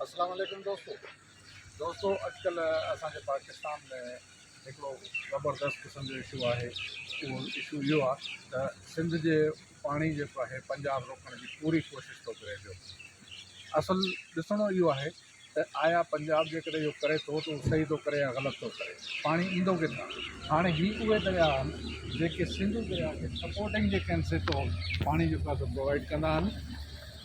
اسلام عليڪم دوستو دوستو اڄڪلهه اسان جي پاڪستان ۾ هڪڙو زبردست قسم جو اشو آهي اهو اشو اهو آهي ته سنڌ جي پاڻي جيڪو آهي پنجاب روڪڻ جي پوري ڪوشش ٿو ڪري پيو اصل ڏسڻو اهو آهي ته آيا پنجاب جيڪڏهن اهو ڪري ٿو ته اهو صحيح ٿو ڪري يا غلط ٿو ڪري پاڻي ايندو ڪٿان هاڻي هي اهي درياء آهن جيڪي سنڌو درياء کي سپورٽنگ جي ڪنسيپٽ پاڻي جيڪو آهي سو پرووائيڊ ڪندا آهن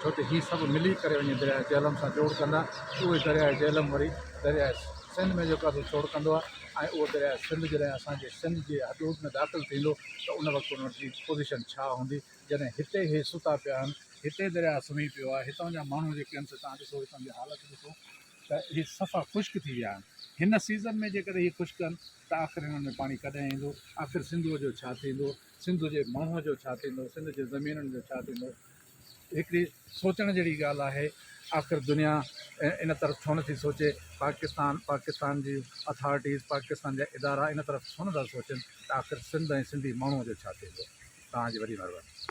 ڇو ته هي سڀ ملي ڪري وڃي درياء جهلم سان جوڙ ڪندا اهوئي درياء جهلم وري درياء سنڌ ۾ جيڪو آهي سو ڇوڙ ڪندو آهي ۽ اهو درياء سنڌ جڏهن اسان جي سنڌ جي حدود ۾ داخل ٿيندو ته ان وقت ان جي پوزيشن ڇا هوندي جڏهن هتي هي ستا پيا آهن هتي درياء سمهي پيو آهي هتان جا ماڻهو جيڪي آهن سي توهان ڏسو هتان جي حالت ڏسو ته هي صفا خشڪ ٿي ويا آهن هن سيزن ۾ جيڪڏهن هي خشڪ آهن ته آخر هنن ۾ پاڻي ڪڏهن ايندو آخر سنڌوء جو ڇا ٿيندو سنڌ جي ماڻهوء جو ڇا ٿيندو سنڌ جي زمينن جو ڇا ٿيندو هڪڙي سوچڻ جهڙي ڳالهه آهي آخر دنيا ان طرف ڇو نه ٿي سوچي پاڪستان پاڪستان جي اٿارٽيز پاڪستان جا ادارا ان طرف ڇو نه ٿا سوچن ته آخر سنڌ ۽ سنڌي ماڻهو جو ڇا ٿيندو توهان جي وڏي مهرباني.